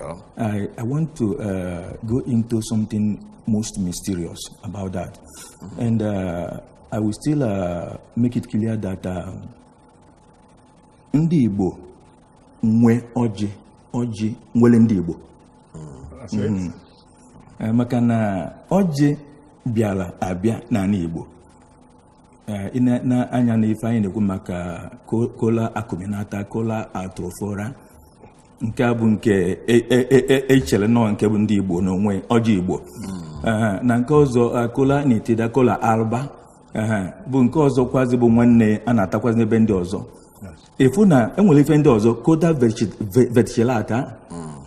Oh. I, I want to uh, go into something most mysterious about that. Mm-hmm. And uh, I will still uh, make it clear that um, ndị Igbo nwe ọjị ọjị nwere ndị Igbo mm-hmm. uh, maka na ọjị bịara abịa n'ala Igbo Eh, i ne anya na ife anyị na-ekwu maka cola acuminata cola atrophora nke a bụ nke e- e- e- e- echere na ọ nke bụ ndị igbo n'onwe ọjị igbo Ehe, na nke ọzọ eh, cola nitida cola alba Ehe, bụ nke ọzọ kwazi bụ nwanne a na-atakwazi n'ebe ndị ọzọ ị fụ na e nwere ife ndị ọzọ cola verticillata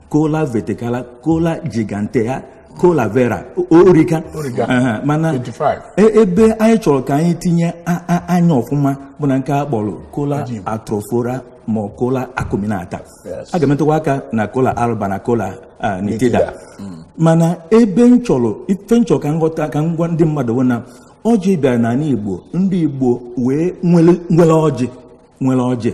cola verticala cola gigantea cola vera o- origa Origa. Aha, mana 25. e- ebe anyị chọrọ ka anyị tinye a- a- anya ọfụma bụ na nke a kpọrọ cola Ọjị. atrophora ma ọ cola acuminata Yes. a ga-emetụkwa aka na cola alba na cola ah, nitida Nitida. mana ebe m chọrọ ife m chọrọ ka m ghọta ka m gwa ndị mmadụ bụ na ọjị bịara n'ala igbo ndị igbo wee nwere nwere ọjị nwere ọjị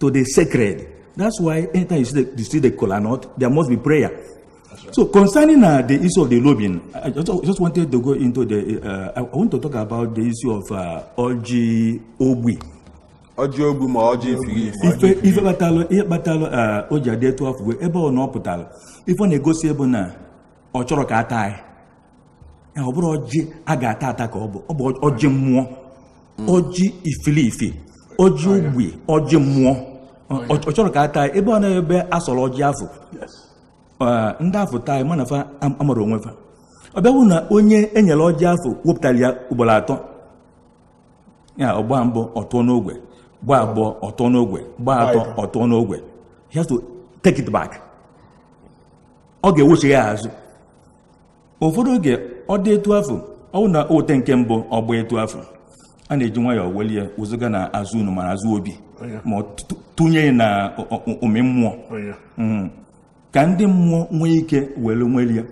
to the sacred. That's why anytime you see the, you see the kola nut, there must be prayer. Right. So concerning uh, the issue of the lobing, I just, I just wanted to go into the. Uh, I want to talk about the issue of uh, Ọjị ogbi. Ọjị ogbi ma ọjị ifilifi. Ife kpatalụ Ife kpatalụ uh, ọjị adị etu afụ bụ ebe ọ na ọ pụtara ife ọ na-egosi bụ na ọ chọrọ ka a taa ya ọ bụrụ ọjị a ga-ata ata ka ọ bụ ọ bụ ọjị mmụọ ọjị ifilifi ọjị ogbi ọjị mmụọ ọ ọ chọrọ ka a taa ya. ebe ọ na ebe a sọrọ ọjị afụ eh, ndị afụ taa ya mana fa am- amara onwe fa ọ bịa wụ na onye e nyere ọjị afụ wepụtara ya ugboro atọ ya ọ gbaa mbụ ọ tụọ n'ogwe gbaa abụọ ọ tụọ n'ogwe gbaa atọ ọ tụọ n'ogwe he has to take it back ọ ga-ewechi ya azụ ụfọdụ oge ọ dị etu afụ ọ wụ na e wote nke mbụ ọ gbaa etu afụ a na-eji nwayọọ welie wezụga na azụ ụnọ ma ọ azụ obi ma tụnye na ụmị mmụọ mm. ka ndị mmụọ nwee ike were nwelie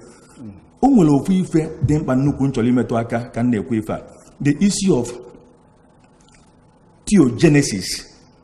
o nwere ofu ife dị mkpa nnukwu m chọrọ imetụ aka ka m na-ekwu ife a the issue of theogenesis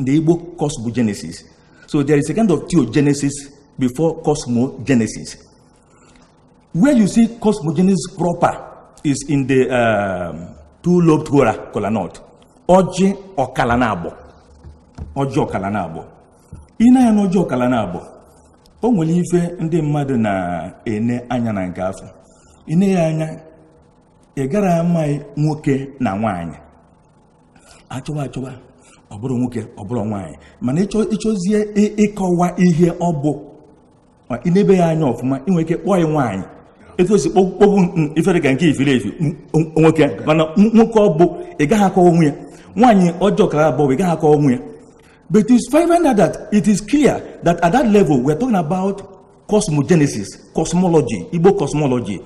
The Igbo cosmogenesis. So there is a kind of theogenesis before cosmogenesis. Where you see cosmogenesis proper is in the um, two-lobed uh kola nut. Ọjị ọkala naabọ. Ọjị ọkala naabọ. I ne anya na ọjị ọkala naabọ. O nwere ife ndị mmadụ na-ene anya na nke afụ. I ne ya anya ị gara amaghị nwoke na nwaanyị achọba achọba ọ bụrụ nwoke ọ bụrụ nwaanyị mana ịchọzie ịkọwa ihe ọ bụ ị nebe ya anya ọfụma ị nwere ike kpọọ ya nwaanyị etu osi kpogbu ife dịka nke ifere efi nwoke mana nwoke ọ bụ ị gaghị akọwa onwe ya nwaanyị ọjị ọkara abụọ ị gaghị akọwa onwe ya but it's find out that it is clear that at that level we are talking about cosmogenesis cosmology igbo cosmology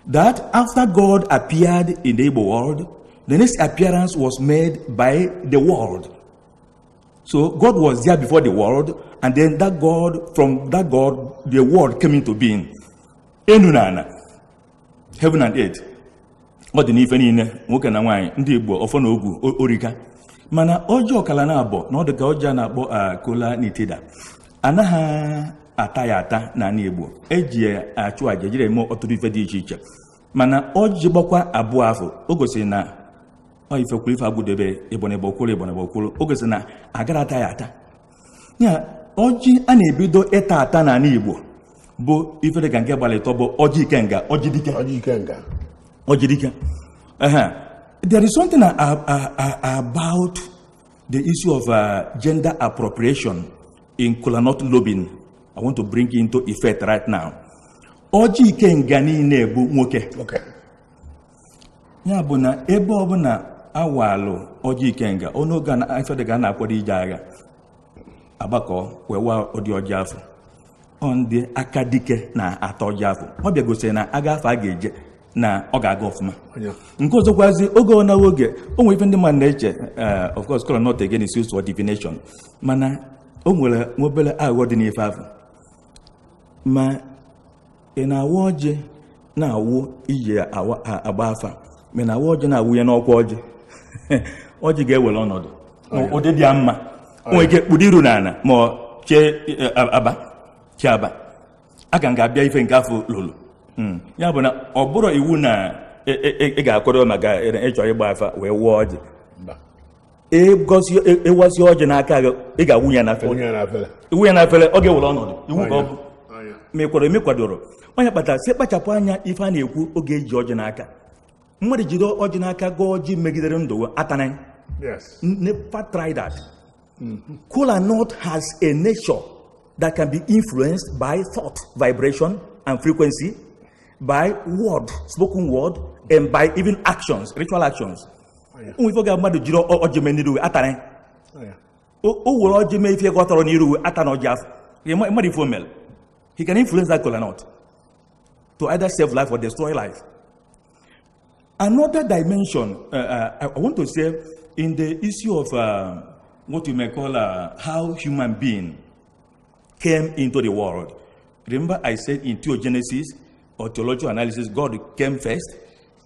that after God appeared in the Igbo world, the next appearance was made by the world. So God was there before the world, and then that God, from that God, the world came into being. Enu na ana, heaven and earth. ọ dị n'ife niile nwoke na nwaanyị ndị igbo ọfọ na ogu orika mana ọjị ọkala naabọ na ọ dị ka ọjị a na-akpọ cola ah, nitida anaghị ata ya ata n'ana Igbo eji ya achụ aja ejiri eme ọtụtụ ife dị iche iche mana ọjị gbakwa abụọ afụ o gosiri na ọ ife kwụrụ ife akwụdebe ịbọnịbọ kwụrụ ịbọnịbọ kwụrụ o gosiri na agara ata ya ata ya ọjị a na-ebido ịta ata n'ana Igbo bụ ife dịka nke gbalụ ịtọ bụ ọjị ikenga ọjị dike ọjị ikenga ọjị dike there is something about The issue of uh, gender appropriation in kolanut lobing, I want to bring it into effect right now. Ọjị ikenga niile bụ nwoke. Okay. Ya bụ na ebe ọbụla awalụ ọjị ikenga, ọ n'oge ife dịka a na-akwado ije agha, agbakọ wee waa ụdị ọjị afụ. ọ ndị aka dike na-ata ọjị afụ ọ bịa gosiri na agha afụ a ga-eje na ọ ga-aga ọfụma nke ọzọkwazi oge ọ na-awụ oge o nwere ife ndị mmadụ na-eche eh, of course kolanut again is used for divination mana o nwere nwa obere aghụghọ dị n'ife afụ ma ị na-awa ọjị na-awụ iji agba afa ma a na-awa ọjị na-awụnye n'ọkwa ọjị ọjị ga-ewere ọnọdụ ụdị dị mma nwere ike kpudo iru n'ana ma ọ chee e, aba chee aba a ka ga-abịa ife nke afụ lụrụ hmm. ya bụ na ọ bụrụ iwu na e, e, ị ga-akwado maka ịchọ ịgba afa wee wụọ ọjị ị gọsịa ị wasịa ọjị n'aka gị ị ga-awụ ya n'afere wụnye n'afere ị wụ ya n'afere ọ ga-ewere ọnọdụ iwu ka ọ bụ anya ma ị kwere eme kwadoro ọ ya kpatara a sị kpachapụ anya ife a na-ekwu oge eji ọjị n'aka mmadụ jide ọjị n'aka gọọ ọjị megidere ndụ gị, atana ya. yes never try that. Kola nut has a nature that can be influenced by thought, vibration, and frequency, by word, spoken word, and by even actions, ritual actions. ụmụ ife oge mmadụ jiri ọjị mee n'iru atara o were ọjị mee ife gọtọrọ n'iru ata na ọjị afụ mmadụ ife omel he can influence that kola nut to either save life or destroy life another dimension uh, uh, i want to say in the issue of uh, what you may call uh, how human being came into the world remember i said in theogenesis or theological analysis god came first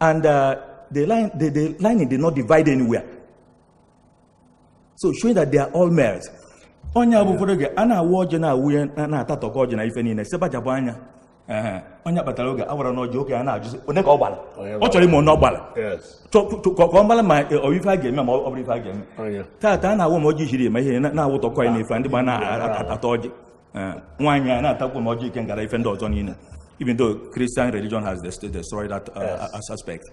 And uh, the, line, the, the lining did not divide anywhere. So showing that they are all males. ọ nya bụ ụfọdụ oge a na-awụ ọjị na-awụnye na-atatọkọ ọjị na ife niile sebajabụ anya ọ nya kpatara oge a wara n'ọjị oke a na-ajụzi one ka ọ gbara ọ chọrọ ịma one ọ gbara ka ọ mara ma ọ ife a ga-eme ma ọ bụrọ ife a ga-eme taata a na-awụ ma ọjị jiri eme ihe na-awụtọkọ ya n'ife ndị gba na-ata ọjị Eh, nwaanyị a na-atakwu ma ọjị ikenga na ife ndị ọzọ niile even though Christian religion has dest- destroyed that uh, Yes. as- aspect.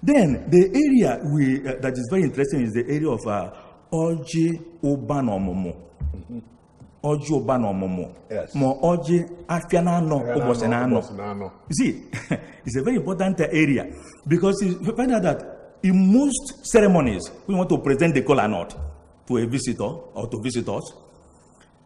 Then the area we, uh, that is very interesting is the area of uh, ọjị ụba na ọmụmụ. Ọjị ụba na ọmụmụ. Yes. Ma ọjị afịa na anọ ụbọchị na anọ. Ụbọchị na anọ. You see, it's a very important uh, area because you find out that in most ceremonies, we want to present the kola nut to a visitor or to visitors.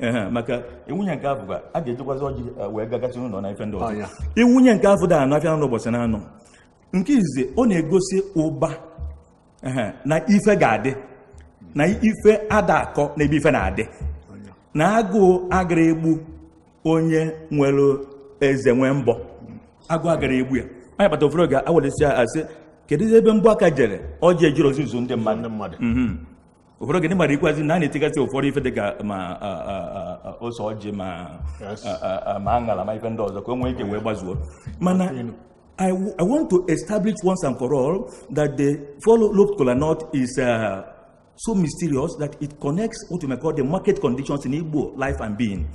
Ehe, maka i wunye nke afụ a ga-ejikwazi ọjị eh, wee gagasị n'ụlọ na ife ndị ọzọ Ọnya. i wunye nke afụ gba anọ afịa n'ụbọchị na anọ nke izizi ọ na-egosi ụba ehe, na ife ga-adị na ife ada akọ n'ebe ife na-adị na agụụ agara egbu onye nwere eze nwee mbọ agụụ agara egbu ya ọ nya kpata ụfọdụ oge a welesi ya a sị kedu ebe mbọ aka jere ọjị ejiro ezuzu ndị mmadụ ndị mmadụ Mhm. ụfọdụ oge anyị marakwazi na a na-etigasị ụfọdụ ife dịka ma a, a, a, a, ose ọjị ma Yes. a, a, a, ma aṅara ma ife ndị ọzọ ka o nwee ike wee gbazuo mana I, w- I want to establish once and for all that the four lobed kola nut is uh, so mysterious that it connects what you may call the market conditions in Igbo life and being.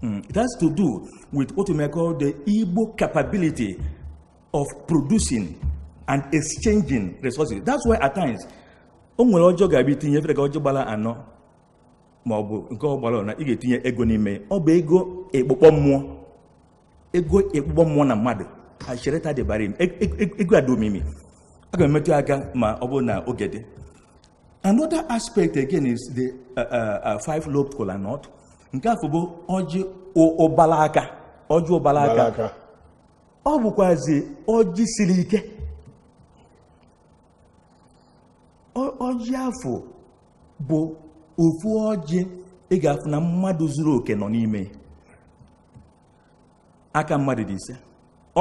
Mm, It has to do with what you may call the Igbo capability of producing and exchanging resources. That's why at times o nwere ọjị ọ ga-abụ i tinye efere ka ọjị ọ gbara anọ ma ọ bụ nke ọ gbara na ị ga-etinye ego n'ime ọ bụ ego ekpokpọ mmụọ ego ekpokpọ mmụọ na mmadụ a chereta dibịa e, e, e, ego adị omimi a ga-emetụ aka ma ọ bụrụ na oge dị another aspect again is the uh, uh, uh, five lobed kola nut nke afụ bụ ọjị ụbala aka ọjị ụbala aka ọ bụkwazi ọjị siri ike ọjị afọ bụ ofu ọjị ị ga-afụ na mmadụ zuru oke nọ n'ime aka mmadụ dị ise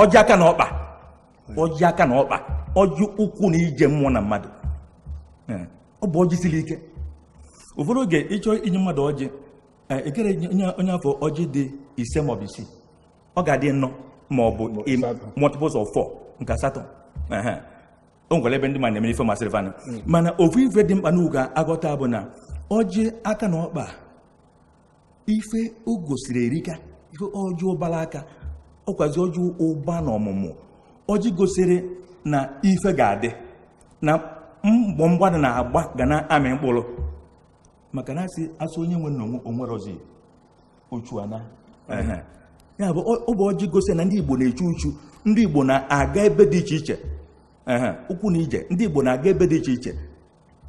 ọjị aka na ọkpa ọjị aka na ọkpa ọjị ụkwụ na ije mmụọ na mmadụ ọ bụ ọjị siri ike ụfọdụ oge ịchọ inye mmadụ ọjị ekere onye afọ ọjị dị ise maọbụ isii ọ ga-adị anọ ma ọ bụ multiples of four nke asatọ o nwere ebe ndị ma na-emere ife masịrị fanụ hmm. mana ofu ife dị mkpa n'unu ga-aghọta bụ na ọjị aka na ọkpa ife o gosiri erika ife ọjị ụbara aka ọkwazi ọjị ụba na ọmụmụ ọjị gosiri na ife ga-adị na mbọ mmadụ na-agba ga na-amị mkpụrụ maka na asị asụ onye nwe na onwerozi uchu ana ya bụ ọ bụ ọjị gosi na ndị Igbo na-echu uchu ndị Igbo na-aga ebe dị iche iche ụkwụ na ije ndị Igbo na-aga ebe dị iche iche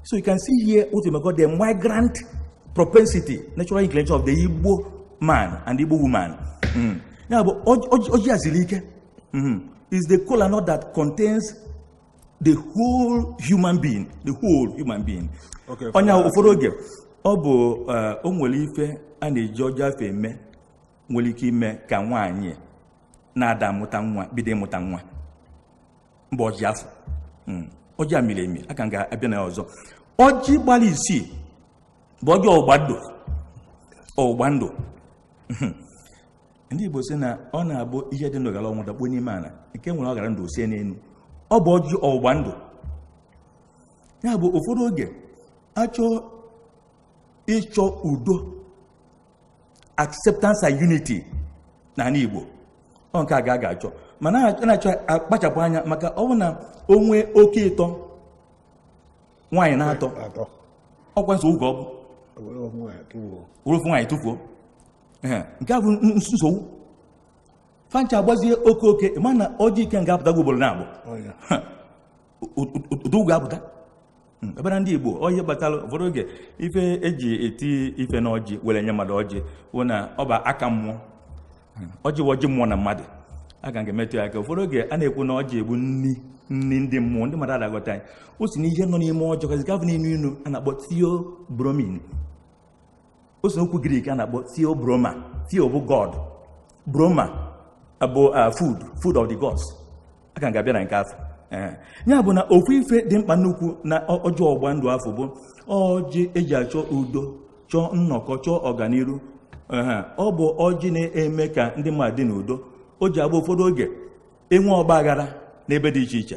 so you can see here what you call the migrant propensity natural inclination of the Igbo man and Igbo woman hmm. ya bụ ọjị a siri ike hmm. is the kola nut that contains the whole human being the whole human being ọ nya ụfọdụ oge ọ bụ eh, o nwere ife a na-eji ọjị afọ eme nwere ike ime ka nwaanyị na-ada amụta nwa bido ịmụta nwa mba ọjị afọ hmm. ọjị a miri emi aka m ga-abịa na ya ọzọ ọjị gbara isii bụ ọjị ọgbụgba ndụ ọgbụgba ndụ hmm. ndị Igbo si na ọ na-abụ ihe dị ndụ gara ọnwụ dakpuo n'ime ala nke nwere ọ gara ndụ osie n'elu ọ bụ ọjị ọgbụgba ndụ ya bụ ụfọdụ oge achọ ịchọ udo acceptance and unity na ndị Igbo ọ nke a ka a ga-achọ mana a na-achọ akpachapụ anya maka ọ bụ na o nwee oke ịtọ nwaanyị n'atọ ọkwa nsogbu ọ bụ were ofu nwaanyị tụfuo nke a bụ nsogbu fancha agbazie oke oke mana ọjị ikenga apụtago ugboro naabọ ụdị ugwu apụta ebe na ndị igbo ọ nya kpatara ụfọdụ oge ife eji eti ife na ọjị were nye mmadụ ọjị bụ na ọ bụ aka mmụọ ọjị bụ ọjị mmụọ na mmadụ aka ga-emetụ ya aka ụfọdụ oge a na-ekwu na ọjị a bụ nri nri ndị mmụọ ndị mmadụ ada aghọta ya o si na ihe nọ n'ime ọjị kazi gavụ na-enu inu a na-akpọ theobromine o si n'okwu grik a na-akpọ theobroma theo bụ god broma bụ food food of the gods aka m ga-abịa na nke afọ ya bụ na ofu ife dị mkpa nnukwu na ọjị ọgba ndụ afọ bụ ọjị eji achọ udo chọọ nnọkọ chọọ ọganiru ọ bụ ọjị na-eme ka ndị mmadụ dị n'udo ọjị a bụ ụfọdụ oge e nwee ọgba aghara n'ebe dị iche iche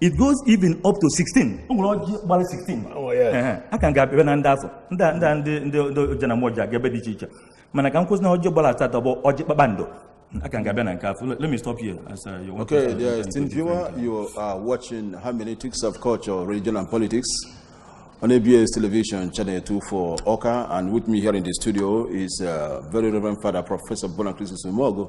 it goes even up to 16 o nwere ọjị gbara 16 Oh, yes. Ehe, a ka m ga-abịa na ndị afụ ndị a- ndị a- ndị ndị ndị oje na mmọ ji aga ebe dị iche iche mana ka m kwụsị na ọjị gbara asatọ bụ ọjị kpakpando a ka m ga-abịa na nke afụ let me stop here as uh, you want to Okay, say dear something esteemed to viewer, different. you are watching Hermeneutics of Culture, Religion and Politics on ABS Television, Channel 24 Awka. And with me here in the studio is uh, very Reverend Father Professor Bonachristus Umeogu,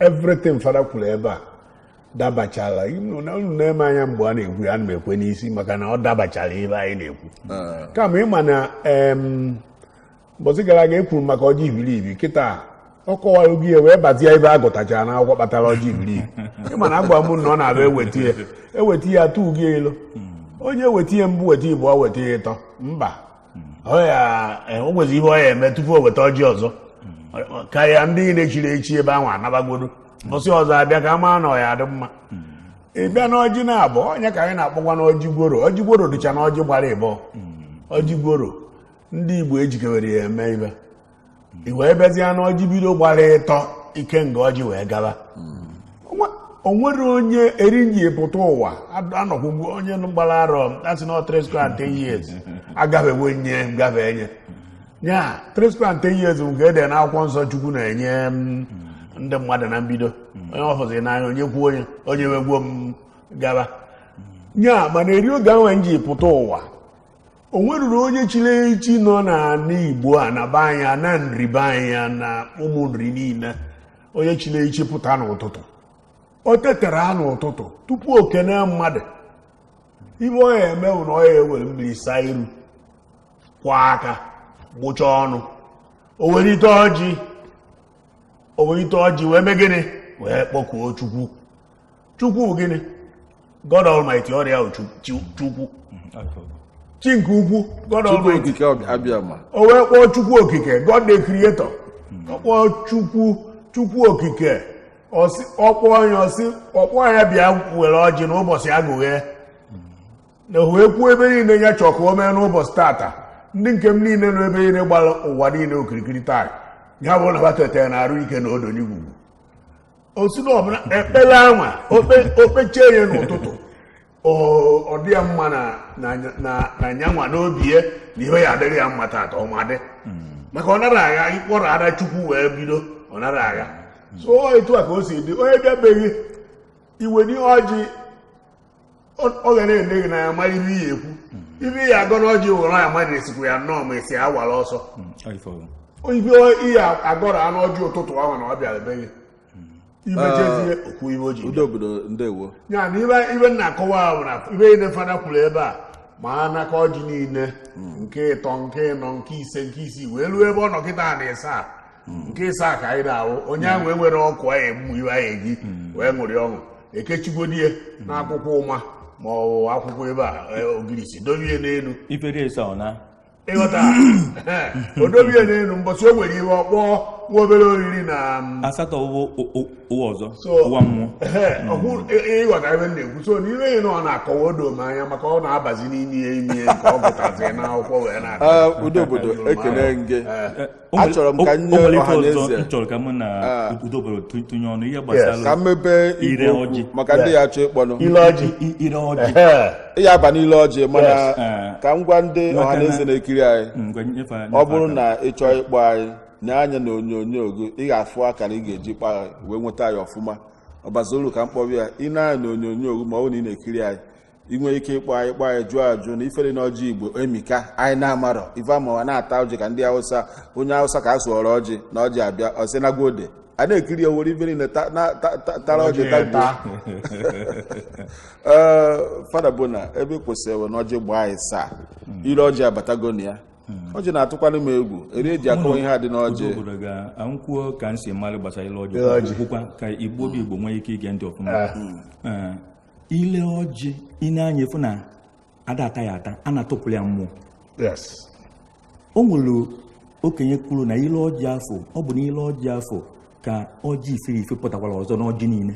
everything fada kwuru ebe a dabachala unu na- unu na-ene m anya mgbe a na-ekwu ya ana m ekwe n'isi maka na ọ dabachara ihe anyị na-ekwu kama ị ma na em, mbọsị gara aga e kwuru maka ọjị ibiribi kịta ọ kọwara oge ya wee bazie ebe a gụtachara na akwụkwọ kpatara ọjị ibiribi ị ma na a gwa m na ọ na-abịa eweta ya eweta ya tụọ gị elu onye weta ya mbụ weta ịbọ weta ya ịtọ mba ọ ya eh, o nwezi ihe ọ ya eme tupu o weta ọjị ọzọ ka ya ndị niile chiri echi ebe ahụ anabagodo mbọsị ọzọ a bịa ka a maa na ọ ya adị mma ị bịa n'ọjị naabọ ọ nya ka anyị na-akpọkwa n'ọjị gworo ọjị gworo dịcha n'ọjị gbara ịbọ ọjị gworo ndị igbo ejikewere ya eme ibe i wee bịazie na ọjị bido gbara ịtọ ikenga ọjị wee gaba Onwe- o nwere onye eri nji pụta ụwa ad- anọkwụ mgbe onye nụ gbara arọ a sị na three score and ten years agabego nye gafe enye ya three score and ten years bụ nke e de na akwụkwọ nsọ chukwu na-enye m, ndị mmadụ na mbido onye ọ fụzi n'anya onye kwuo onye onye wegbuo m gaba ya mana eri oge ahụ nji pụta ụwa o nweruru onye chiri echi nọ n'ala igbo a na be anyị na nri be anyị na ụmụ nri niile onye chiri echi pụta n'ụtụtụ o teta ụra n'ụtụtụ tupu o kene mmadụ ibe ọ ya eme bụ na ọ ya ewere mmiri saa iru kwa aka gbụchaa ọnụ o were ite ọjị o were ite ọjị wee mee gịnị wee kpọkuo chukwu chukwu gịnị god almighty ọ ya bụ chukwu chi nke ukwu god almighty o wee kpọọ chukwu okike god the creator ọ kpọọ chukwu chukwu okike ọ kpọọ nya ọ sị ọ kpọọ nya bịa were ọjị n'ụbọchị agụghe na o wee kwuo ibe niile ya chọọ ka o mee n'ụbọchị tata ndị nke m niile nọ ebe niile gbara ụwa niile okirikiri taa ya bụrụ na ha na arụ ike na udo n'igwugwu ọ sị na ọbụla ekpere anwa o kpechie ya n'ụtụtụ ọ dị ya mma na nyanwa n'obi ya na ihe ya adịrị ya mma taata ọmadị maka ọ nara agha ị kpọrọ afa chukwu wee bido ọ nara agha so etu a ka o si dị onye bịabeghị iwe n'ihe ọjị ọ ga na-ene gị anya mara ife ị ya-ekwu ife ị ya-agọ na ọjị were ya mmadụ esikwu ya nnọọ ma esi awara ọsọ ife ị ya-agọrọ ya n'ọjị ụtụtụ ahụ na ọ bịara be gị imejezie ah, okwu ibe ọjị udo obodo ndewo ya na ibe ibe ị na-akọwa ahụ na ife niile fada kwuru ebe a ma n'aka ọjị niile hmm. nke ịtọ nke ịnọ nke ise nke isii wee ruo ebe ọ nọ kịta na ịsaa nke ịsaa ka anyị na-awụ onye ahụ enwere ọkụ anyị egbu ife anyị eji wee ṅụrị ọṅụ ekechigodi ya n'akwụkwọ ụma ma ọ bụ akwụkwọ ebe a e, ogirisi dobie n'elu ifere eso ọ na ịghọta o dobie n'elu mbọsị o nwere ike ọ kpọọ nwa obere oriri na mm, asatọ ụwa o- o- ụwa ọzọ So- ụwa mmụọ Ehe, ọhụ ị- ịghọta ebe m na-ekwu so n'ime ihe na ọ na-akọwa odo m anya maka ọ na-abazi n'ime ihe ime nke ọ gụtazi n'akwụkwọ wee na-aga Ah, udo obodo ekele gị achọrọ m ka nye ọha na eze chọrọ ka mụ na ah. udo obodo tụnye ọnụ ihe gbasara ka mmebe ire ọjị maka ndị ya-achọ ịkpọnụ ile ọjị ire ọjị ya-aba n'ile ọjị mana ah. ka m gwa ndị ọha na eze na-ekiri anyị mm, ọ bụrụ na ị chọọ ịkpọ anyị nee anya na onyonyo gị ị ga-afụ akara ị ga-eji kpọọ wee nweta anyị ọfụma ọbazolu ka m kpọrọ ya ị nee anya na onyonyo gị ma ọ bụ na ị na-ekiri anyị ị nwere ike ịkpọ anyị kpọ anyị jụọ ajụ na ife dị na ọjị igbo emika anyị na-amarọ ife amawa na-ata ọjị ka ndị awụsa onye awụsa ka a sụọrọ ọjị na ọjị abịa ọ sị na gode a na-ekiri ya were ifere na ta- na- ta- ta- tara ọjị tagbuo ee fada bụ na ebe ị kwụsịrị ewe na ọjị gbaa anya ịsaa ile ọjị abatago na ya ọjị na-atụkwanụ m egwu eri eji akọwa ihe a dị n'ọjị Udo obodo ka m kwuo ka m si mara gbasara ile Ile ọjị ọjị. kwukwa ka igbo bụ igbo nwee ike ige ntị ọfụma Ee, ile ọjị ị nee anya ị fụ na a da-ata ya ata a na-atụpụrụ ya mmụọ o nwere okenye kwuru na ile ọjị afụ ọ bụ na ile ọjị afụ ka ọjị ife ife pụtakwara ọzọ n'ọjị niile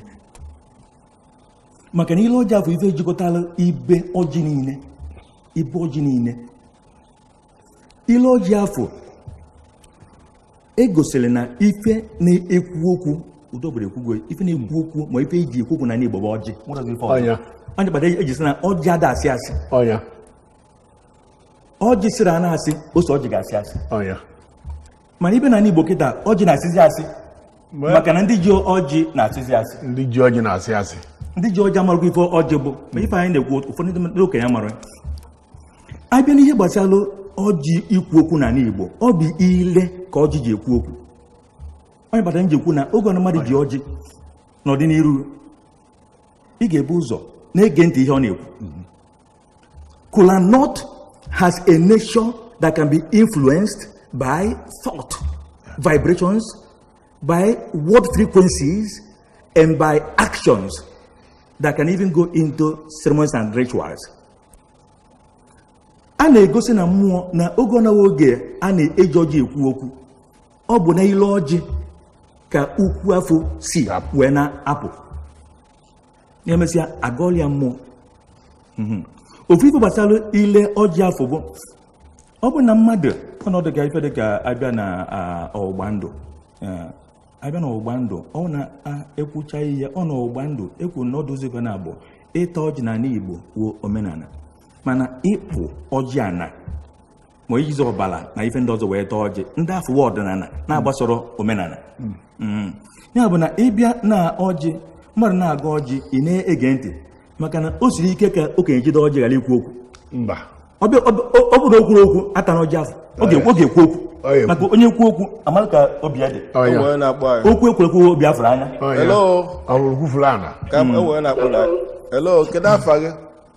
maka na ile ọjị afụ ife jikọtara ibe ọjị niile ibe ọjị niile ile ọjị afụ egosiri na ife na-ekwu okwu udo obodo ekwugo ife na-ekwu okwu ma ife eji ekwu okwu n'ani Igbo bụ ọjị ọ ya kpata eji sị na ọjị ada asị asị ọjị sịrị a na-asị ose ọjị ga-asị asị mana ị bịa n'ani igbo kịta ọjị na-asịzi asị maka na ndị ji ọjị na-asịzi asị ndị ji ọjị na-asị asị ndị ji ọjị amarọkwa ife ọjị bụ ma ife anyị na-ekwu ụfọdụ ndị okenye mara abịa n'ihe gbasara ọjị ikwu okwu n'ani igbo ọ bụ ile ka ọjị ji ekwu okwu ọ ya kpata m ji ekwu na oge ọbụna mmadụ ji ọjị nọdụ n'ihu ị ga-ebu ụzọ na-ege ntị ihe ọ na-ekwu Kola Nut has a nature that can be influenced by thought, vibrations, by word frequencies, and by actions that can even go into ceremonies and rituals. a na-egosi na mmụọ na oge ọ na-awa oge a na-eji ọjị ekwu okwu ọ bụ n'ile ọjị ka okwu afụ si wee na-apụ ya mesịa agọọla ya mmụọ mhm. ofu ife gbasara ile ọjị afụ bụ ọ bụ na mmadụ ọnọdụ ka ife dị ka abịa na ọgbụgba ndụ abịa na ọgbụgba ndụ ọ na ekwucha ihe ọ na ọgbụgba ndụ ekwu na ọ dụzi ife naabọ ịta ọjị na ala igbo wuo omenala mana ịkpụ ọjị ana ma ijizi ọbara na ife ndị ọzọ wee taa ọjị ndị afụwa ọdịnala na-agbasoro omenala mm. ya bụ na ị bịa na ọjị mmadụ na-agọ ọjị ị na-ege ntị maka na o siri ike ka okenye jide ọjị ghara ikwu okwu ọ bụrụ na o kwurọ okwu atana ọjị afụ ọ ga-ekwu okwu maka onye kwuo okwu amara ka obi ya dị okwu e kwuru ekwu obi a fụrụ anya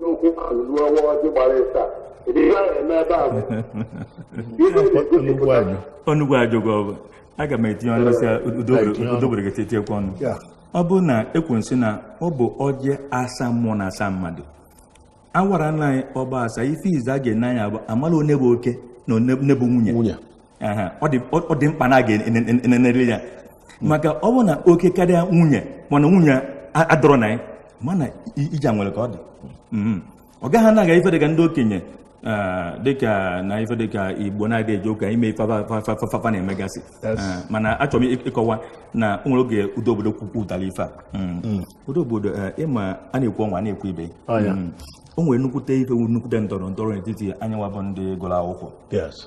n'okwu ahụ ruo ọ waa ọjị gbara ịsaa ịdị ihe ahụ eme ebe ahụ ihe na-egosipụta onugbu ajụgo ọ bụ aga m etinye ọnụ si udo obodo ga-etiekwa ọnụ ọ bụrụ na ekwu m sị na ọ bụ ọjị asaa mmụọ na asaa mmadụ awara nna anyị ọ gba asaa ife izizi a ga-ene anya bụ amala onye bụ oke na onye bụ nwunye Aha, ọ dị ọ- ọ dị mkpa na a ga-enenere ya maka ọ bụ na oke karịa nwunye mana nwunye a- adịrọ na ya mana i- ija nwere ka ọ dị Mhm. ọ gaghị anaghị ife dịka ndị okenye ah, dịka na ife dịka igbo na-adị eje ụka ime ife afa- afa- afa- afa na-emegasị Yes. Ah, mana achọrọ m ịk- ịkọwa na o nwere oge udo obodo kwupụtara ife a Mm. udo obodo eh, ịma a na-ekwu ọnwa a na-ekwu ibe Ọ ya. Mm. o nwere nnukwute ife nnukwute ndọrọ ndọrọ n'etiti anyịnwa bụ ndị gụrụ akwụkwọ Yes.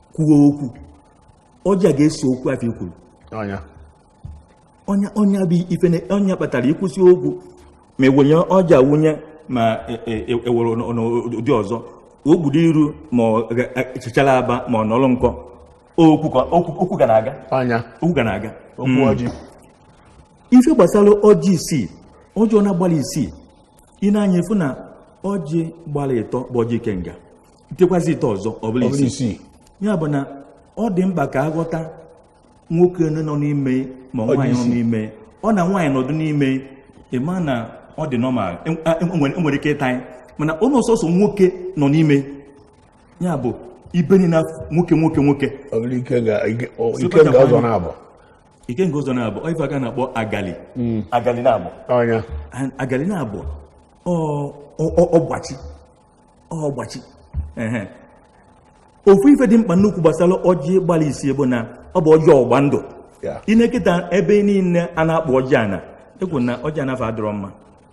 kwuo okwu ọjị a ga-eso okwu afụ i kwuru ọ nya ọ nya bụ ife ọ nya kpatara i kwusịa okwu ma ewunye ọjị awunye ma ewere e, e, n'ụdị ọzọ o kpudo iru ma chichara aba ma ọ nọrọ nkọ okwu ga na-aga okwu ga na-aga hmm. ife gbasara ọjị isii ọjị ọnwa gbalụ isii i nee anya ị fụ na ọjị gbara ịtọ bụ ọjị ikenga tikwasị ịtọ ọzọ ọ bụrụ isii ya bụ na ọ dị mkpa ka a ghọta nwoke nọ n'ime ma nwaanyị nọ n'ime ọ na nwaanyị nọdụ n'ime ịma na ọ dị normal enwere e, e ike ịta ya mana onye ọ sọsọ nwoke nọ n'ime ya bụ ibe niine nwoke nwoke nwoke ikenga ụzọ na-abụ ife a ka na-akpọ agali hmm. agali na-abụ agali na-abụ ọgbachi ọgbachi ofu ife dị mkpa nnukwu gbasara ọjị gbalụ isii bụ na ọ bụ ọjị ọgba ndụ ị na-eketa ebe niile a na-akpụ ọjị ana ekwu na ọjị ana afụ adịrọ mma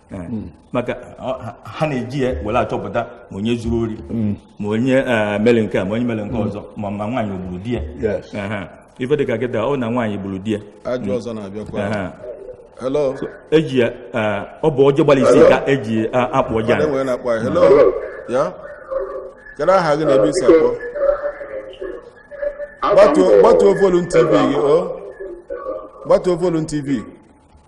Hmm. maka ha na-eji ya were achọpụta ma onye zuru ori hmm. ma onye eh, mere nke a ma onye mere nke hmm. ọzọ ma ma nwaanyị o gburu di ya ife dịka kịta ọ na nwaanyị gburu di ya ajụ ọzọ na-abịakwa Aha. hello eji ya eh, ọ bụ ọjị gbalụ isii ka e ji eh, akpụ ọjị ana nwere na-akpọ anyị. hello ya kedu aha gị na ebe i si akpọ Gbatuo- gbatuo volume tv gị o gbatuo volume tv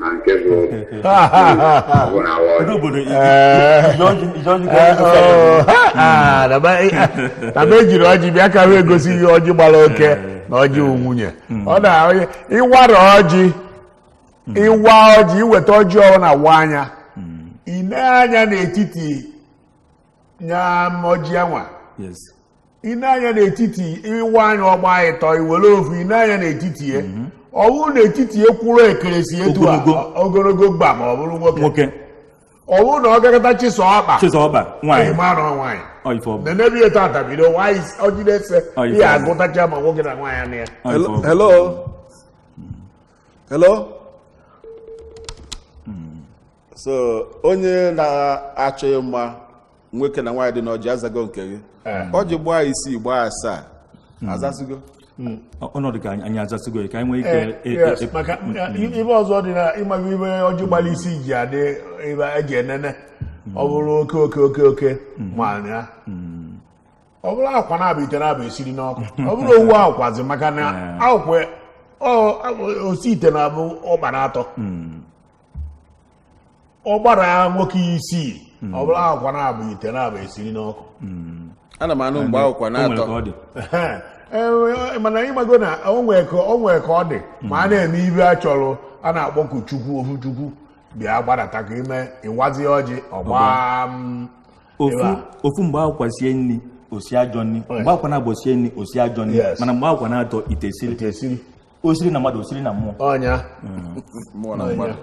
na nke bụ bụ na awa Ndị ọjị. obodo i- i- ije ọjị- ije ọjị ka ndị ọjị. Oh, ha, ha, na be- na be e jiri ọjị bịa ka wee gosi ihe ọjị gbara oke na ọjị wụ nwunye ọ na onye ị wara ọjị ị waa ọjị i weta ọjị ọhụrụ na waa nya i nee anya n'etiti nya ọjị anwa Yes. i nee anya n'etiti ị waa nya ọ gbaa ịtọ i were ofu i nee anya n'etiti ya mhm. ọ bụrụ n'etiti ya kwụrụ ekeresi etu ogologo gbam ọ bụrụ nwoke ọ bụrụ na ọ gakọta chịsaa ọkpa chịsaa ọkpa nwaanyị ị mara nwaanyị nenebi etu atabido nwaanyị ọjide ese ihe agụtacha ma nwoke na nwaanyị na ya hello hello so onye na-achọ ịma nwoke na nwaanyị dị n'ọjị azago nke gị eh. ọjị gbaa isii gbaa asaa hmm. azasigo hmm. ọnọdụ ka anyị azasigo ka anyị nwee ike eh, e, e, e, maka hmm. ibe ọzọ dị na ịmaghị ibe ọjị gbara isii ji adị ebe e ji enene ọ bụrụ oke oke oke oke ma ya ọ bụrụ akwụkwa naabọ ite naabọ e siri n'ọkụ ọ bụrọ ofu akwụkwazi maka na eh. akwụkwa osi ite na-abụ ọkpa naatọ ọ gbara nwoke isii ọ bụrụ akwụkwa naabọ ite naabọ e siri n'ọkụ ana m anụ mgbe akwụkwa O nwere naatọ ka ọ dị. Ehe. Ee, mana ị mago na o nwee ka o nwee ka ọ dị ma a na-eme ibe a chọrọ a na-akpọku chukwu ofu chukwu bịa gbadata ka ime ị wazie ọjị ọ gbaa m, ofu ebe a. ofu mgbe akwụkwa sie nri o sie ajọ nri mgbe akwụkwa naabọ sie nri o sie ajọ nri Yes. mana mgbe akwụkwa naatọ ite esiri Ite esiri o siri na mmadụ o siri na mmụọ ọ nya mmụọ na mmadụ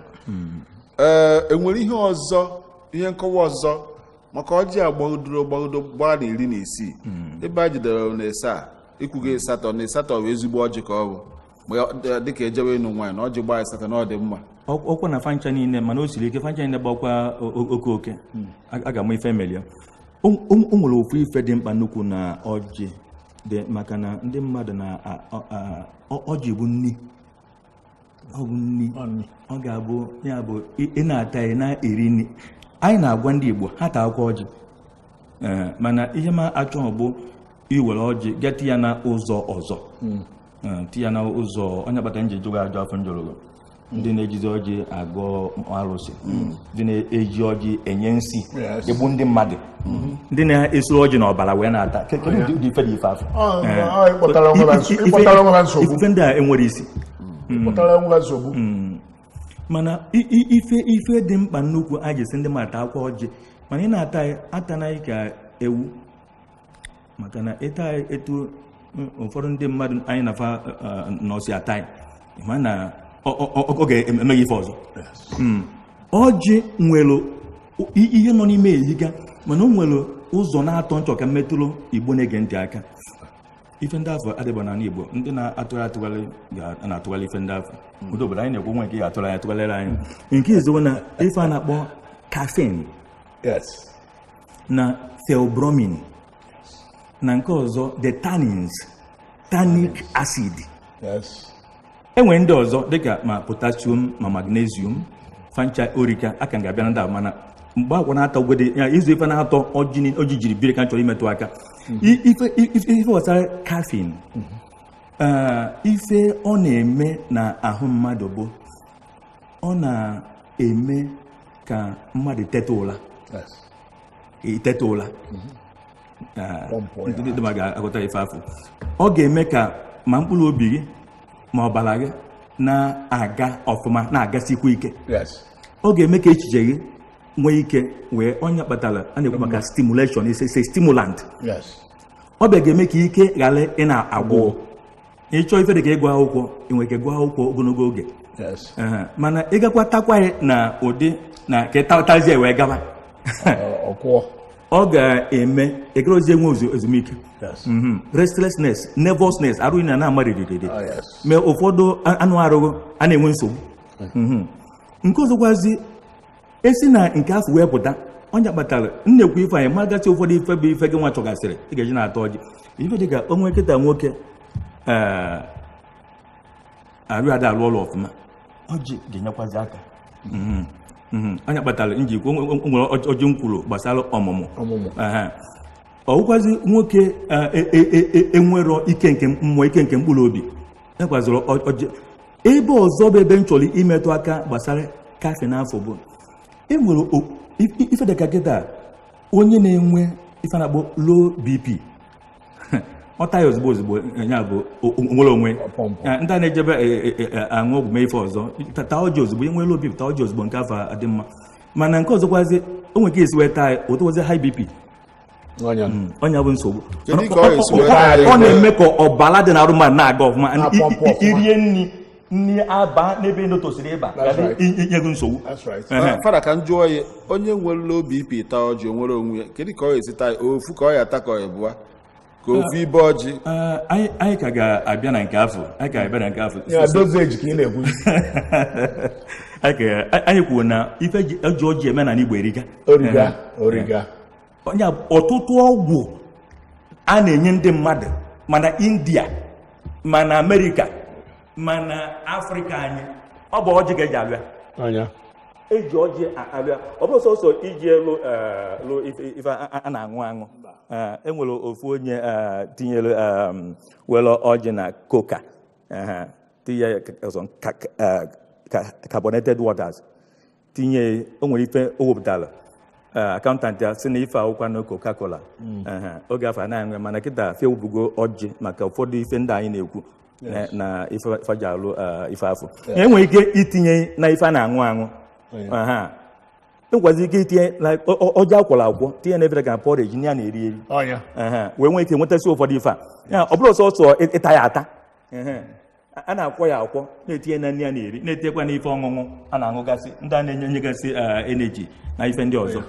ee e nwere ihe ọzọ ihe nkọwa ọzọ maka ọjị a gbagidoro gbagido gbaa na iri na isii ebe a jidere na ịsaa i kwugo ịsatọ na ịsatọ bụ ezigbo ọjị ka ọ bụ ma ya- dị- dịka e jewe ịnụ nwaanyị na ọjị gbaa ịsatọ na ọ dị mma Ọ- ọkwa na fa ncha niile mana o siri ike fa ncha niile gbakwa o- o- oke oke a a ga-ama ife melụ ya o nwere ofu ife dị mkpa nnukwu na ọjị dị maka na ndị mmadụ na ọjị bụ nni ọ bụ nni ọ ga-abụ ya bụ ị na-ata ya na-eri nni anyị na-agwa ndị Igbo ha taakwa ọjị mana ihe m achọghị bụ iwere ọjị ga ti ya na ụzọ ọzọ hmm. Eh, ti ya na ụzọ ọ nya kpata nji jụọ ajụjụ afụ njụrụ gị ndị na-ejizi ọjị agọ arụsị ndị na-eji ọjị enye nsi Yes. egbu ndị mmadụ ndị na-esuru ọjị na ọbara wee na-ata Ke- kedu ụdị- ụdị ife dị ife afụ Ọ, Eh, ọ, ị kpọtara onwe ha nso- ị ife- kpọtara onwe ha nsogbu. ife ndị a enwerọ isi pụtara nwa nsogbu mana i- i- ife ife dị mkpa nnukwu a ga-asị ndị mmadụ taakwa ọjị mana ị na-ata ya atanaghị ka ewu maka na ịta etu mm, ụfọdụ ndị mmadụ anyị na fa eh, nọsi ata ya mana ọ- ọ- ọ- ọ ga-eme gị ife ọzọ Mm. ọjị nwere o- i- ihe nọ n'ime eyiga mana o nwere ụzọ naatọ nchọ ka mmetụrụ igbo na-ege ntị aka ife ndị afụ adịba n'ala igbo ndị na-atụgharị atụgharị ga- na-atụgharị ife ndị afụ ụdị obodo anyị na-ekwu nwa nke ga-atụrụ anyị atụgharịrị anyị nke izizi na ife a na-akpọ caffeine yes na theobromine na nke ọzọ the tannins tannic acid e nwere ndị ọzọ dịka ma potassium ma magnesium fa ncha o rika aka m ga-abịa na ndị a mana mgbe agwa na-atọ gwede ya izu ife naatọ ọjị jiri biri ka m chọrọ imetụ aka ife gbasara caffeine ife ọ na-eme na ahụ mmadụ bụ ọ na-eme ka mmadụ teta ụla iteta ụla ndị ma ga-aghọta ife afụ ọ ga-eme ka ma mkpụrụ obi gị ma ọbara gị na-aga ọfụma na-agasikwa ike ọ ga-eme ka echiche gị nwee ike wee ọ nya kpatara a na-ekwu maka stimulation is a stimulant ọ bịa ga-eme ka ike ghara ịna-agwụ ị chọọ ife dị ka ịgụ akwụkwọ ị nwee ike gụọ akwụkwọ ogologo oge mana ị gakwa takwa ya na ụdị na ka ịtatazie wee gaba ọ ga-eme ị garọzi enwe ezumike mhm. restlessness nervousness arụ gị ana-ama ririri oh, mee ụfọdụ anụ arụ gị ana-enwe nsogbu mhm. nke ọzọkwazi e si na nke afụ wee pụta ọ nya kpatara m na-ekwu ife anyị magasị ụfọdụ ife bụ ife gị nwa chọgasịrị ị ga-eji na-ata ọjị ife dị ka o nweketa nwoke ee arụ ada arụ ọrụ ọfụma ọjị ga-enyekwazi aka Mhm, mhm. ọ nya kpatara nji ekwu o nwere ọjị- ọjị m kwuru gbasara ọmụmụ ọmụmụ Ehe. ọ wụkwazi nwoke e- e- e- e- enwerọ ike nke mmụọ ike nke mkpụrụ obi ekwazịrị ọjị ebe ọzọ bụ ebe m chọrọ imetụ aka gbasara caffeine afụ bụ enwere ife dịka kịta onye na-enwe ife a na-akpọ low bp ọ taa ya ozugbo ozugbo ya bụ nwere onwe ndị a na-ejebe e, e, e, aṅụ ọgwụ mee ife ọzọ taa ọjị ozugbo i nwee low bp taa ọjị ozugbo nke afụ adị mma mana nke ọzọkwazi o nwere ka e si wee taa otu ozi high bp ọ nya mm, ọ nya bụ nsogbu ọ na-eme ka ọbara dị n'arụ mmadụ na-aga ọfụma i rie nri nri abaa n'ebe ndị tosiri ịba inye gị nsogbu fada ka m jụọ ya onye nwere low bp taa ọjị o nwere onwe ya kedu ka ọ esi taa ofu ka ọ ya-ata ka ọ ebụa ka ofu ibe ọjị anyị ka ga-abịa na nke afụ anyị ka ga-abịa na nke afụ anyị kwuo na ife e ji ọjị eme n'ana igbo erika onye ọtụtụ ọgwụ a na-enye ndị mmadụ ma na india ma na amerịka ma na afrịka anyị ọ bụ ọjị ka e ji alụ ya e ji ọjị a- alụ ya ọ bụrọ sọsọ iji ya lụ eh, lụ ife ife a a- a na-aṅụ aṅụ Eh, e nwere ofu onye eh, tinyere em, were ọjị na koka eh, tinye ọzọ ka- ka- eh, ka- carbonated waters tinye o nwere ife o wepụtara accountant ya sị na ife a ga-akpọ nya coca-cola Ehe, oge afụ anaghị enwe mana kịta fa ewepụgo ọjị maka ụfọdụ ife ndị anyị na-ekwu na- na ife fa ji alụ eh, ife afụ e nwere ike itinye na ife a na-aṅụ aṅụ Aha. e nwekwazị ike itinye na ọ- ọ- ọjị a kwọrọ akwọ tinye na ebere ka porridge ndị a na-eri eri ọ nya Ehe, wee nwee ike nwetasị ụfọdụ ife a Ya, ọ bụrọ sọsọ ịta ya ata Ehe. a na-akwọ ya akwọ na-etinye na nri a na-eri na-etinyekwa n'ife ọṅụṅụ a na-aṅụgasị ndị a na-enye enyegasị eh, energy na ife ndị ọzọ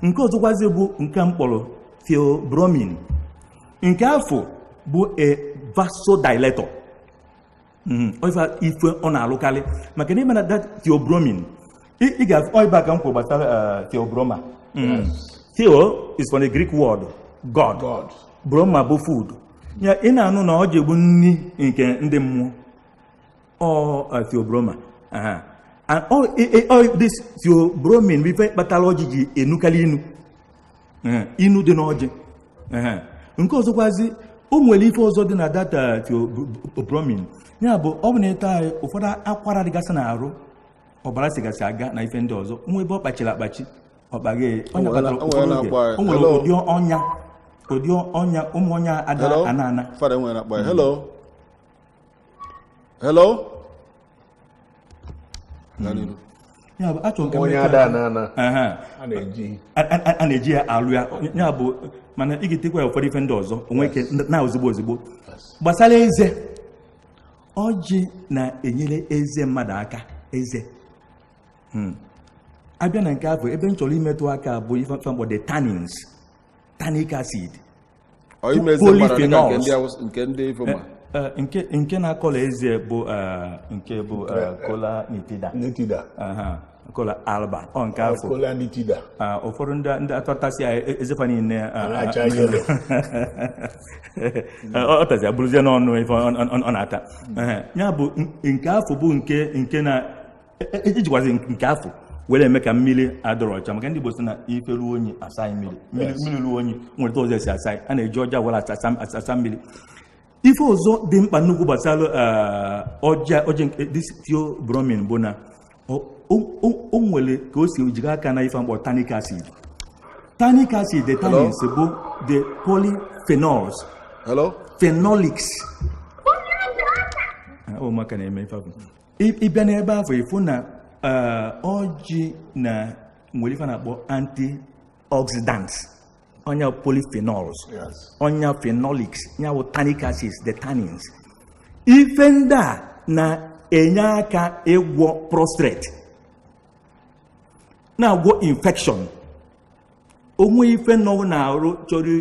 nke ọzọkwazi bụ nke m kpọrọ theobromine nke afụ bụ a vasodilator hmm, ife ọ na-alụkarị maka na ị ma na that theobromine Ị- ị ga- ọ ebe a ka m kwuru gbasara eh, Theobroma Theo is from the Greek word God. God. Broma bụ food. Ya ị na-anụ na ọjị bụ nri nke ndị mmụọ. Ọ eh, Theo Broma. Aha. And all, eh, eh, all this Theobromine bụ ife kpatara ọjị ji enukarị inu. Eh, Inu dị n'ọjị. Eh, Nke ọzọkwazi o nwere ife ọzọ dị na that Theobromine. Ya bụ ọ bụ na ị taa nya ụfọdụ akwara dịgasị n'arụ ọbara sigasị aga na ife ndị ọzọ o nwee ebe ọ kpachiri akpachi ọ kpaghee ọ nya kpatara ụfọdụ oge o nwere ụdị ọnya ụdị ọnya ụmụ ọnya ada ana ana fada nwere na akpa ya hello hello hmm. ya bụ a chọrọ ka ọnya ada ana ana a na-eji ya alụ ya ya bụ mana ị ga-etinyekwa ya ụfọdụ ife ndị ọzọ o nwee ike naa ozigbo ozigbo gbasara eze ọjị na-enyere eze mmadụ aka eze hmm. abịa na nke afọ ebe m chọrọ imetụ aka bụ ife m kpọ the tannins tannic acid polyphenols Eh, nke nke na-akọla eze bụ eh, nke bụ eh, kola nitida kola alba ọ nke afụ kola nitida ah, ụfọdụ ndị ndị atatasị ya e- eze fa niile ah, ah, acha yelo ọ ọ tazi abụrụzie n'ọnụ ife ọ- ọ- ọ- ọ na-ata Ehe. ya bụ n- nke afụ bụ nke nke na e- e- ejikwazi nke afụ were eme ka mmiri adọrọ ọcha maka ndị Igbo sị na ife ruo unyi asaa ya mmiri mmiri Yes. mmiri ruo unyi nwere ụzọ esi asa ya a na-eji ọjị a were asa- asa asa mmiri ife ọzọ dị mkpa nnukwu gbasara eh, ọjị a ọjị a nke this theobromine bụ na o- o- o- o nwere ka o si jikọ aka na ife m kpọ tannic acid tannic acid the tannins bụ the polyphenols Hello? phenolics Ah, ọ maka na-eme ife ahụ. Ị- ị bịa n'ebe afọ ị fụ na eh, ọjị na nwere ife a na-akpọ antioxidants ọ nya polyphenols ọ nya phenolics ya bụ tannic acids the tannins ife ndị a na-enye aka ịgwọ prostrate na-agwọ infection o nwee ife nọ n'arụ chọrọ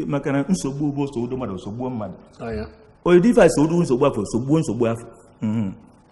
maka na nsogbu bụ nsogbu mmadụ nsogbu mmadụ odifa nsogbu nsogbu afọ nsogbu nsogbu afọ mhm.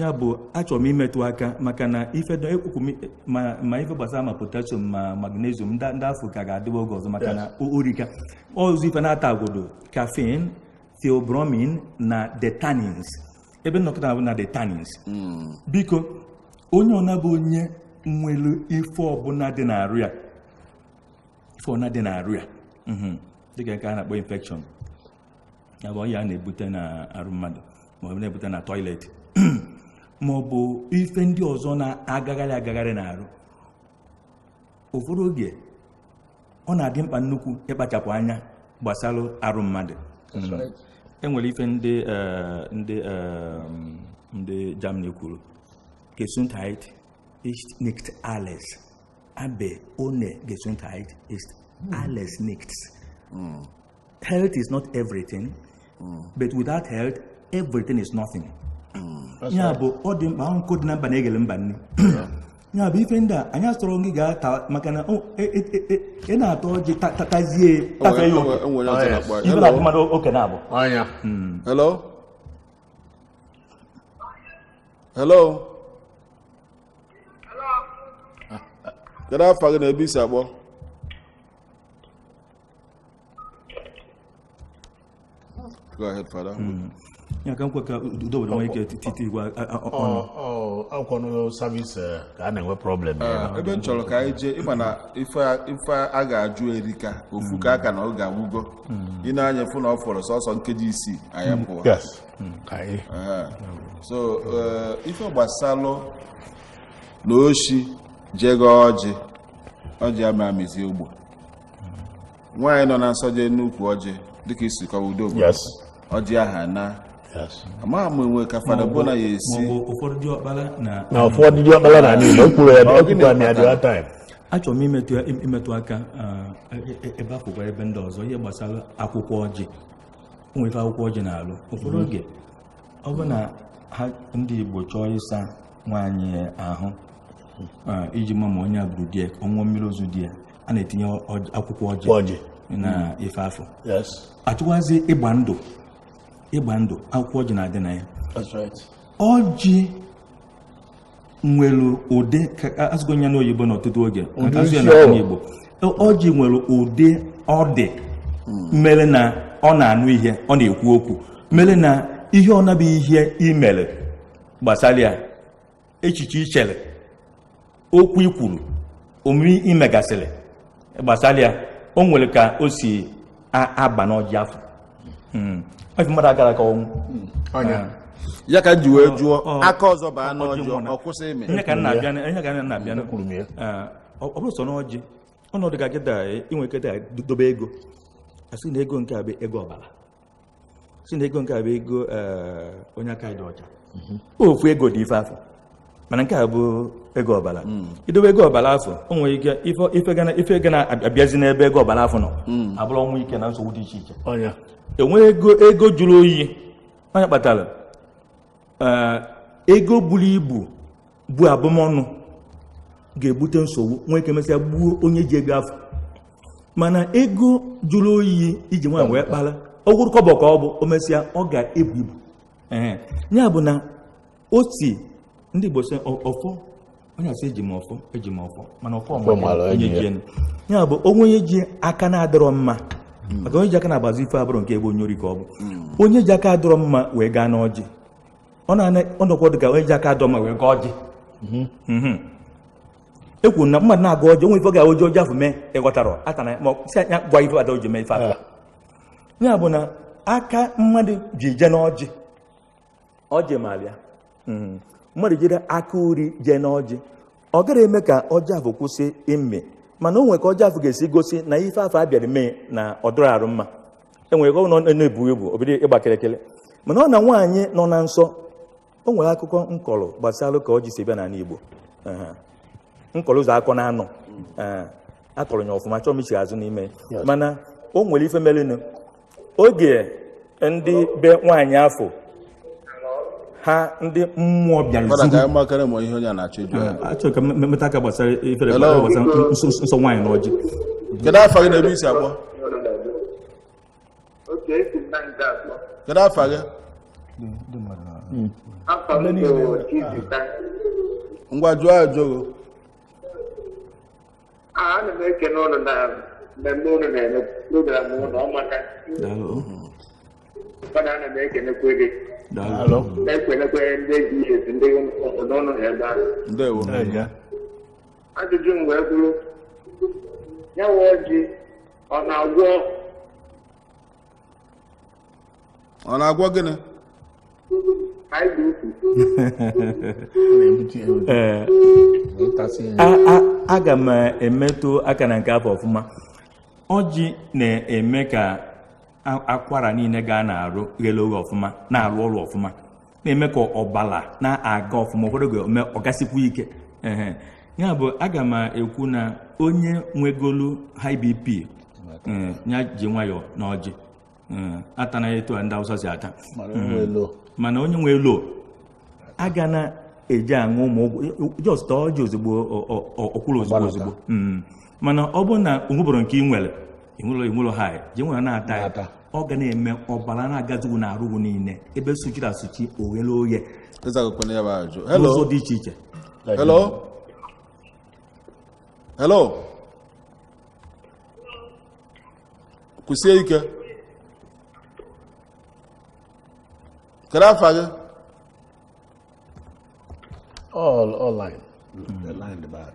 ya bụ achọrọ m imetụ aka maka na ife ekwukwu ma ife gbasara ma potassium ma magnesium ndị afụ ka ga-adịwa oge ọzọ maka na o rika ọzọ ife n'atọ a gụdo caffeine theobromine na the tannins ebe m nọ kịta bụ na the tannins hmm. biko onye ọ na-abụ onye nwere ife ọbụla dị n'arụ ya ife ọbụla dị n'arụ ya mhm. dịka nke a na-akpọ infection ya bụ ọya a na-ebute na arụ mmadụ ma ọ bụ na-ebute na toilet ma ọ bụ ife ndị ọzọ na-agagharị agagharị na arụ ụfọdụ oge ọ na-adị mkpa nnukwu ịkpachapụ anya gbasara arụ mmadụ enwere ife ndị eh, ndị eh, ndị Germany kwuru Gesundheit ist nicht alles aber ohne Gesundheit ist hmm. alles nichts hmm. Health is not everything, mm. but without health, everything is nothing. Mm. ya bụ ọ dị mkpa nkụ dị na mba na-eghele mba nni ya bụ ife ndị a anyị asịrọ gị ga-ata maka na e, e, e, ị na-ata ọjị tatazie tafe ya oke ife na mmadụ oke na-abụ hmm. hello hello kedu afa gị na ebe i si akpọ Go ahead, Father. Mm. ya ka m kwe ka udo were nwee ike titi igwe ọnụ akwụkwọ n'ụlọ savis eh, ka a na-enwe problem ah, ebe m chọrọ ka anyị jee ịma na ife a ga-ajụ erika ofu ka aka na oge agwụgo hmm. i nee anya ị fụ na ọ fọrọ sọsọ nkeji isii anyị hmm. apụọ hmm. ah. so eh, ife gbasalụ na oshi jegaa ọjị ọjị ama amịzi ọ bụ nwaanyị nọ na nsọ jee n'ukwu ọjị dịka i si kọwa udo bụ ọjị aha na amaghị m enwe ka fada bona ya esi na ụfọdụ dị ọkpara na ala igbo kwuru ya ekwukwa na ya dị time achọrọ m imetụ aka e, e, ebe akwụkwọ ebe ndị ọzọ ihe gbasara akwụkwọ ọjị nwere ife akwụkwọ ọjị na-alụ ụfọdụ mm-hmm. oge ọ bụ na ha ndị Igbo chọọ ịsa nwaanyị ahụ iji ma ma ọ nya gburu di ya ọ ṅụọ mmiri ozu di ya a na-etinye akwụkwọ ọjị na hmm. ife afụ a chọkwazị ịgba ndụ ịgba ndụ akwụkwọ ọjị na-adị na ya ọjị nwere ụdị a sụgo ya n'oyibo n'ọtụtụ oge a sụọ ya n'Igbo ọjị nwere ụdị ọ dị hmm. mere na ọ na-anụ ihe ọ na-ekwu okwu mere na ihe ọ na-abụ ihe i mere gbasara ya echiche i chere okwu i kwuru omume i megasịrị gbasara ya o nwere ka o si aba n'ọjị afụ hmm. ọjị mmadụ agara ka ọnwụ hmm. ya ka e ji wee jụọ aka ọzọ baa n'ọjị ọ kwụsị ịmị ihe ka na-abịa ihe ka na-abịa ọ bụrọ sọ n'ọjị ọnọdụ ka kịta i nwe ike dobe ego a sị na ego nke a bụ ego ọbara sị na ego nke a bụ ego eh, onye aka dị ọcha ofu ego dị ife afụ mana nke a bụ ego ọbara i dobe ego ọbara afụ o nwere ike ife- ife ga na- ife ga na-abịazi n'ebe ego ọbara afụ nọ abụrụ ọnwụ ike na nsogbu dị iche iche e nwee ego jụrụ oyi onye kpatara eh, ego buru ibu bụ abụmọnụ ga-ebute nsogbu nwee ike mesịa gbuo onye ji ego afụ mana ego jụrụ oyi e ji nwayọ wee kpara ọ bụrụ kọbọ ka ọ bụ o mesịa ọ ga-ebu ibu ya bụ na o si ndị Igbo sị ọfọ onye a sị eji m ọfọ eji m ọfọ mana ọfọ onye ji ya bụ o nwee onye ji aka na-adịrọ mma hmm. maka onye ji aka na-agbazi ife abụrụ nke ebe onye ori ka ọ bụ hmm. onye ji aka adịrọ mma wee gaa n'ọjị ọ na-ana ọnọkwa ọ dị ka onye ji aka adịrọ mma wee gọọ ọjị mhm. mhm. e kwuru na mmadụ na-agọ ọjị o nwee ife ọ ga-eji ọjị afụ mee ịghọtara aka na ma si anya gwa ife ada oji mee ife atụ ya bụ na aka mmadụ ji je n'ọjị ọjị mara ya mhm. mmadụ jiri aka uri jee n'ọjị ọ gara eme ka ọjị afụ kwụsị ịmị mana o nwere ka ọjị afụ ga-esi gosi na ife afụ a bịara mee na ọ dịrọ arụ mma enwere ka ọ na-ebu ibu o bido ịgba kịrịkịrị mana ọ na nwaanyị nọ na nsọ o nwere akụkọ m kọrọ gbasara ka ọjị si bịa n'ala Igbo m kọrọ ụzọ akọ na anọ akọrọ m ya ọfụma achọọ m ichi azụ n'ime mana o nwere ife merenụ oge ndị be nwaanyị afụ ha ndị mmụọ bịara Fada ka zuru anyị makara ma ihe onye a na-achọ ịjụ ya. achọrọ ka m metụ aka gbasara ifere Hello. gbasara nsọ nsọ nwaanyị na ọjị Kedu afa gị na ebe i si akpọ? otu esi na nke akpọ Kedu afa gị? afa m bụ Chizita Ngwa jụọ ajụjụ. ana m ekene unu na mmemme unu na-eme program unu amaka mana ana m ekenekwe gị na-ekenekwe ndị ji esi ndị unu nọ ebe ahụ ajụjụ m wee bụrụ ya wụ ọjị ọ na-agwọ ọ na-agwọ gịnị Ee, a- a- aga m emetụ aka na nke afụ ọfụma ọjị na-eme ka a- akwara niile ga na-arụ ghele oghe ọfụma na-arụ ọrụ ọfụma na-eme ka ọbara na-aga ọfụma ụfọdụ oge o me ọ gasikwu ike ehe ya bụ aga m ekwu na onye nwegolu high bp eh, ya ji nwayọọ na ọjị eh, atana etu a ndị Awụsa si ata mana o nwee low mana onye nwee low a ga na-eji aṅụ ụmụ ọgwụ just ọjị ozugbo ọ- ọ- ọ- ọ kwụrụ ozugbo Ọgbalata. ozugbo Mm. mana ọ bụrụ na o nwebụrụ nke ị nwere e nwee low e nwee low ha je nwere na-ata ya Na-ata. ọ ga na-eme ọbara na-agazu na arụ gị niile ebe suchiri esuchi o ghele oye azagokwa m ya bụ ajụjụ n'ụzọ hello dị iche iche hello hello kwụsie ike kedu afa gị All, all line. The line, the bad.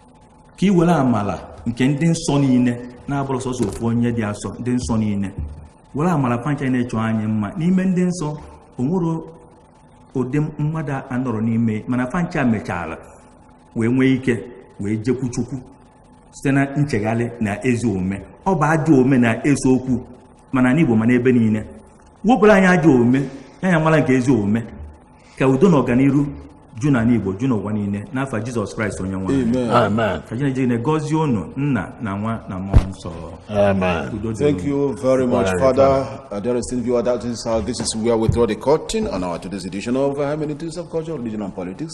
ka i were amala nke ndị nsọ niile na abụrọ sọsọ ofu onye dị asọ ndị nsọ niile were amala fa ncha na-achọ anyị mma n'ime ndị nsọ o nwerọ ụdị mmadụ anọrọ n'ime mana fa ncha mechara wee nwee ike wee jekwu chukwu site na nchegharị na ezi omume ọ bụ ajọ omume na-ese okwu ma na n'igbo ma na ebe niile wepụrụ anyị ajọ omume nye anyị amala nke ezi omume ka udo na ọganiru ju na n'igbo ju n'ụwa niile n'afa jizọs kraịst onye nwe anyị. Amen. ka chineke niile gọzie unu nna na nwa na mmụọ nsọ Amen. udo dịrị unu. Amen. Thank you very much, Father. Uh, dear esteemed viewer, that is how this is where we draw the curtain on our today's edition of uh, Hermeneutics of Culture, Religion, and Politics.